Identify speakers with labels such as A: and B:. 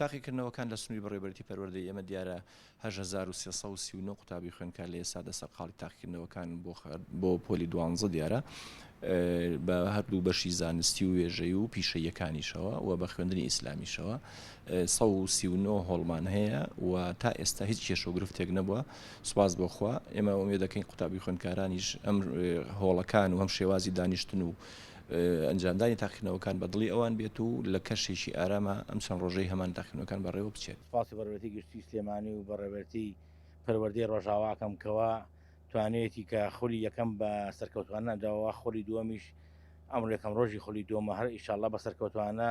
A: تاقیکردنەوەکان لە سنووری بەڕێوەبەرێتی پەروەردەی ئێمە دیارە هەشت هەزار و سێ سەد و سی و نۆ قوتابی خوێندکار لە ئێستادا سەرقاڵی تاقیکردنەوەکانن بۆ بۆ پۆلی دوانزە دیارە بە هەردوو بەشی زانستی و وێژەی و پیشەیەکانیشەوە و بە خوێندنی ئیسلامیشەوە سە و سی و نۆ هۆڵمان هەیە و تا ئێستا هیچ کێشە و گرفتێک نەبووە سوپاس بۆ خوا ئێمە ئومێد دەکەین قوتابی خوێندکارانیش ئەم هۆڵەکان و هەم شێوازی دانیشتن و ئەنجامدانی تاقینەوەکان بە دڵی ئەوان بێت و لە کەشێکی ئاراما ئەم چەند ڕۆژەی هەمان تاقینەکان بەڕێوە بچێت سپاسی بەڕێوەتی گشتی
B: سلێمانی و بەڕێوەتی پەروەردەی ڕۆژاواکەم کەوا توانێتی کە خولی یەکەم بە سەرکەوتوانە داوە خولی دووەمیش ئەمڕ یەکەم ڕۆژی خولی دووەمە هەر ئیشاءاللە بە سەرکەوتوانە